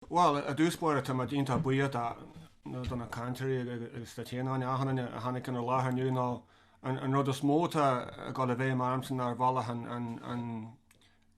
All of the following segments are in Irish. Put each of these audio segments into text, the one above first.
Bhuel, i dtús báire táimid iontach buíoch de na do na cainteoirí agus de dhaoine eile a tháinig inár láthair inniu nó an an rud is mó atá ag dul i bhfeidhm ormsa ná ar bhealach an an an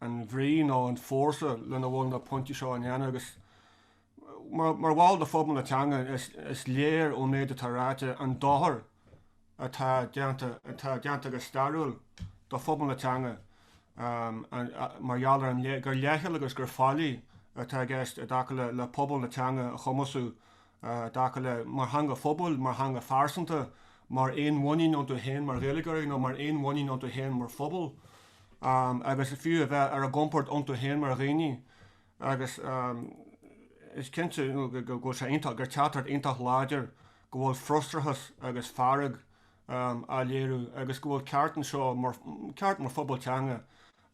an bhrí nó an fórsa lena bhfuil na pointí seo á ndéanamh agus mar mar bhall de phobal na teanga is is léir ón méid atá ráite an dochar atá déanta, atá déanta go stairiúil do phobal na teanga mar gheall ar an, gur leithcheal agus gur faillí atá i gceist i dtaca le pobal na teanga a chumasú i dtaca le, mar theanga phobail, mar theanga phearsanta, mar aon mhuinín iontu féin mar Ghaeilgeoirí nó mar aon mhuinín iontu féin mar phobal agus fiú a bheith ar a gcompord iontu féin mar dhaoine agus is cinnte go bhfuil sé iontach, gur teachtaireacht iontach láidir go bhfuil frustrachas agus fearg á léiriú agus go bhfuil ceart anseo, ceart mar phobal teanga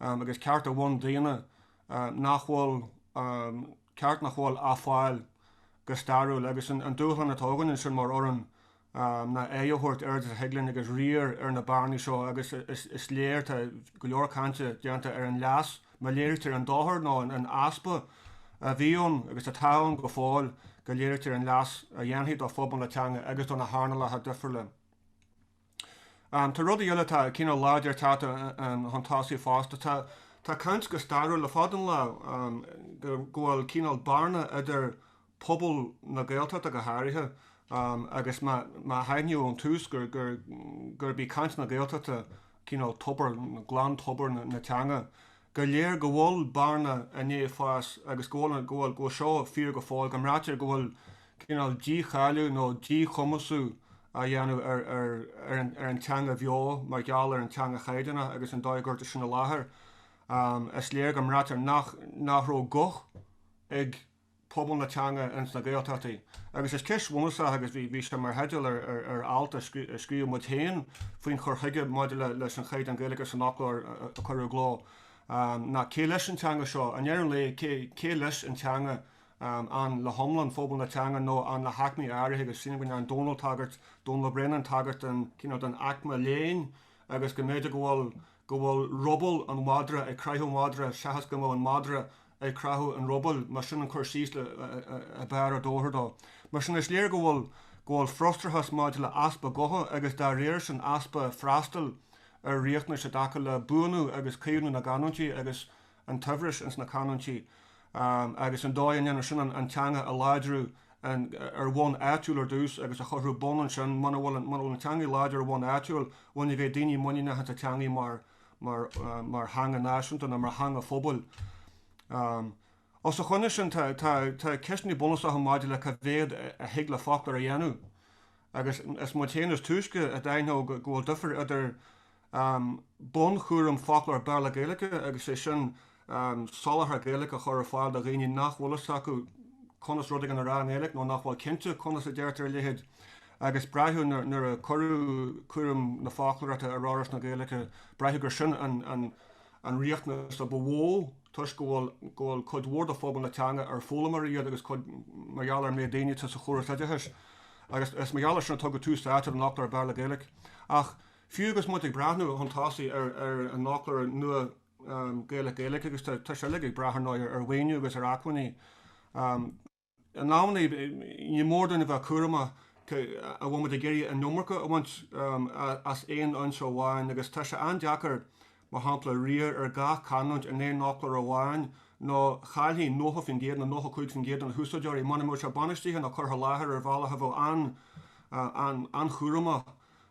agus ceart bundaonna nach bhfuil, ceart nach bhfuil á fáil go stairiúil agus an dúshlán atá againn ansin mar fhoireann ná aghaidh a thabhairt oiread is a thig linn agus riar ar na bearnaí seo agus is léir tá go leor cainte déanta ar an leas Má léirítear an dochar nó an easpa a bhí ann agus atá ann go fóill, go léirítear an leas a dhéanfaidh do phobal na teanga agus do na hearnálacha difriúla. Tá rudaí eile atá cineál láidir tagtha chun tosaigh fosta. Tá caint go stairiúil le fada an lá go bhfuil cineál bearna idir pobal na Gaeltachta go háirithe agus má haithníodh ón tús gurb í caint na Gaeltachta cineál tobar, glan tobar na teanga, gur léir go bhfuil bearna i ndiaidh fás agus go bhfuil seo fíor go fóill, go mbraitear go bhfuil cineál dícháiliú nó díchumasú á dhéanamh ar an teanga bheo mar gheall ar an teanga chaighdeánach agus an dóigh a gcuirtear sin i láthair. Is léir go mbraitear nach raibh guth ag. pobal na teanga ins na Gaeltachtaí. Agus is ceist bhunúsach agus bhí sé mar theideal ar alt a scríobh muid féin faoin chur chuige maidir leis an chaighdeán Gaeilge san fhoclóir a cuireadh i gcló ná cé leis an teanga seo? I ndeireadh an lae cé leis an teanga? An le hiomlán phobal na teanga nó an le haicmí áirithe agus sílim go ndearn Dónall tagairt, Dónall Ó Braonáin tagairt don aicme léinn agus go mb'fhéidir go bhfuil go bhfuil ruball an mhadra ag craitheadh madra seachas go mbeadh an madra ag craitheadh an rubaill, más sin an cur síos a b'fhearr a d'fhóirfeadh dó. Mar sin, is léir go bhfuil go bhfuil frustrachas maidir le easpa gutha agus dá réir sin easpa freastail ar riachtanais i dtaca le buanú agus caomhnú na gcanúintí agus an tsaibhris ins na canúintí agus an dóigh a ndéanann sin an teanga a láidriú ar bhonn áitiúil ar dtús agus a chothú. Bunaithe ansin. Muna bhfuil an teanga láidir ar bhonn áitiúil bhuel ní bheidh daoine muiníneach ins a' teangaidh mar theanga náisiúnta ná mar theanga phobail. Os a choinne sin tá ceisteannaí bunúsacha maidir le cé mhéad a thig le foclóir a dhéanamh agus is muid féin is túisce a d'aithneodh go bhfuil difear idir um bunchúram foclóir Béarla-Gaeilge agus sé sin um soláthar Gaeilge a chur ar fáil do dhaoine nach bhfuil fhios acu conas rud éigin a rá i nGaeilge nó nach bhfuil cinnte conas a deirtear a leithéid agus braitheadh nuair a cuireadh cúram na foclóireachta ar Fhoras na Gaeilge braitheadh gur sin an an an riachtanas a ba mhó toisc go bhfuil go bhfuil cuid mhór de phobal na teanga ar foghlaimeoirí iad agus cuid mhaith mar gheall ar méid daoine atá sa chóras oideachais agus is mar gheall ar sin a tugadh tús áite don fhoclóir Béarla-Gaeilge ach Fiú agus muid ag breathnú chun tosaigh ar an fhoclóir nua Gaeilge-Gaeilge, agus tá sé uilig ag brath ar ndóigh ar mhaoiniú agus ar acmhainní, in amannaí ní mór dúinn a bheith cúramach an bhfuil muid ag iarraidh an iomarca a bhaint as aon fhoinse amháin agus tá sé an-deacair mar shampla riar ar gach canúint in aon fhoclóir amháin nó chaillfí 90% nó 95% de na húsáideoirí muna mbeidh sé bainistithe nó curtha i láthair ar bhealach a bheadh an-chúramach.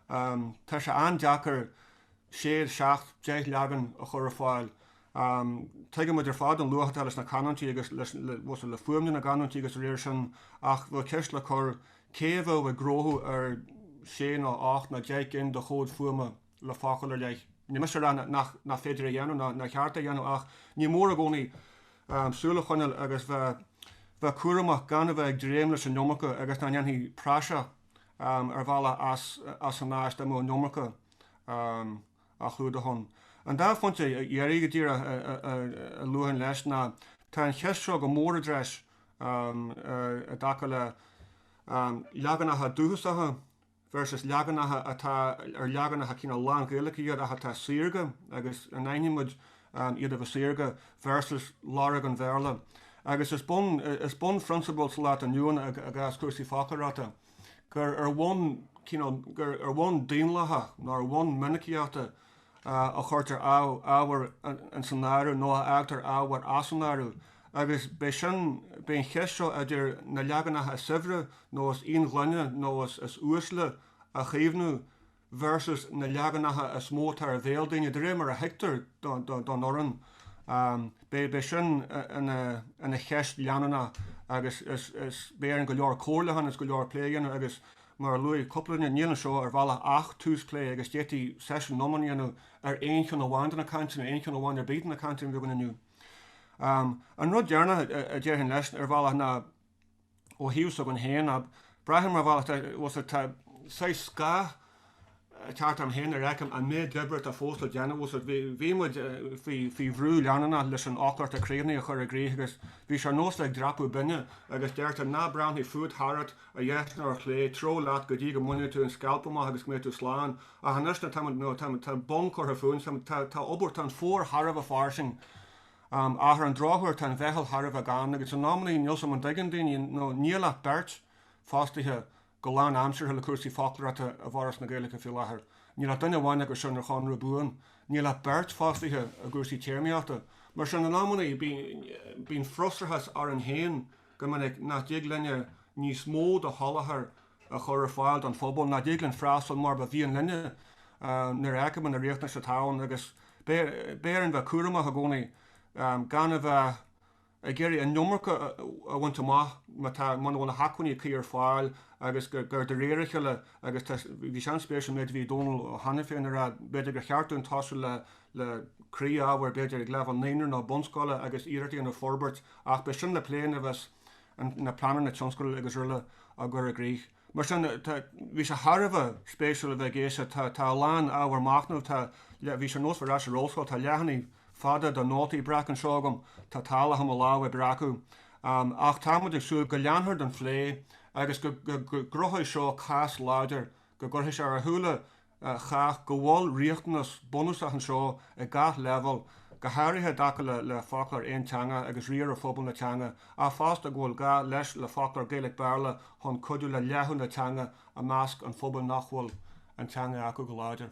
Tá sé an-deacair sé, seacht, deich leagan a chur ar fáil. Tuigimid ar fad an luach atá leis na canúintí agus le fuaimniú na gcanúintí agus dá réir sin ach bheadh ceist le cur, cé a bheadh ag gnóthú ar sé nó ocht nó deich gcinn de chomhaid fuaime le focal ar leith? Níl mise a rá nach féidir é a dhéanamh ná nár cheart é a dhéanamh ach ní mór i gcónaí súil a choinneáil agus bheith cúramach gan a bheith ag dréim leis an iomarca agus nach ndéanfaí praiseach ar bhealach as an áis dá mbeadh an iomarca á chlúdach ann. An dá phointe dheiridh go díreach a luafainn leis ná, tá an cheist seo go mór i dtreis i dtaca le leaganacha dúchasacha versus leaganacha atá ar leaganacha cineál lán-Ghaeilge iad ach atá saorga agus an aithnímid iad a bheith saorga versus lorg an Bhéarla. Agus is bun is bun phrionsabal sa lá atá inniu ann i gcás cúrsaí foclóireachta gur ar bhonn cineál gur ar bhonn daonlathach nó ar bhonn minicíochta a chuirtear ábhar ins an áireamh nó a fhágtar ábhar as an áireamh agus b'é sin b'é an cheist seo idir na leaganacha is saibhre nó is íonghloine nó is uaisle a chaomhnú versus na leaganacha is mó atá ar bhéal daoine, de réir mar a fheictear don fhoireann. Beidh sin ina cheist leanúnach agus beidh orainn go leor comhairle a dhéanamh agus go leor plé a dhéanamh agus, mar a luaigh cúpla duine, níl anseo ar bhealach ach tús plé agus d'fhéadfaí seisiún iomlán a dhéanamh ar aon cheann amháin de na cainteanna, aon cheann amháin ar bith de na cainteanna a bhí againn inniu. An rud deireanach a déarfainn leis ar bhealach ná, Ó thaobh s'againn féin, braithim mar bhealach, bhuel tá saghas scáth ceart orm féin nuair a fheicim an méid oibre atá fós le déanamh, bhuel bhí muid faoi bhrú leanúnach leis an fhoclóir a chríochnú a chur i gcrích agus bhí sé ar nós ag dreapadh binne agus deirtear ná breathnaigh fút, tharat, ar dheis ná ar chlé, treabh leat go dtí go mbainfidh tú an scailp amach agus go mbeidh tú slán. Ach anois tá bonn curtha fúinn, tá obair, tá an fómhar thar a bheith fairsing. Ach ar an drochuair tá an mheitheal thar a bheith gann agus in amannaí níl 's am an dtuigeann daoine nó níl ach beirt fostaithe go lán aimseartha le cúrsaí foclóireachta i bhForas na Gaeilge faoi láthair. Níl ach duine amháin acu sin ar chonradh buan. Níl ach beirt fostaithe i gcúrsaí téarmaíochta. Mar sin in amannaí bíonn frustrachas orainn féin go minic nach dtig linne níos mó de sholáthar a chur ar fáil don phobal, nach dtig linn freastal mar ba mhian linne nuair a fheiceann muid na riachtanais atá ann agus beidh orainn bheith cúramach i gcónaí gan a bheith ag iarraidh an iomarca a bhaint amach má tá, muna bhfuil na hacmhainní cuí ar fáil agus gur de réir a chéile agus tá, bhí sé an-spéisiúil an méid a bhí Dónal Ó hAiniféin a rá, b'fhéidir gur cheart dúinn tosú le croí-ábhair b'fhéidir ag leibhéal naíonra nó bunscoile agus iarracht a dhéanamh forbairt ach beidh sin le plé nuair a bheas na pleananna tionscadail agus araile á gcur i gcrích. Mar sin, tá, bhí sé thar a bheith spéisiúil a bheith ag éisteacht. Tá, tá a lán ábhar machnaimh, tá, le, bhí sé nós ar ais san ollscoil, tá leathanaigh fada de nótaí breac anseo agam, tá tálach i mo lámh ag breacadh. Ach tá muid ag súil go leanfar den phlé agus go, go, go gcruthóidh seo cás láidir, go gcuirfidh sé ar a shúile chách go bhfuil riachtanas bunúsach anseo ag gach leibhéal, go háirithe i dtaca le le Foclóir Aonteangach agus riar ar phobal na teanga, ach fosta go bhfuil gá leis le Foclóir Gaeilge-Béarla chun cuidiú le leathadh na teanga i measc an phobail nach bhfuil an teanga acu go láidir.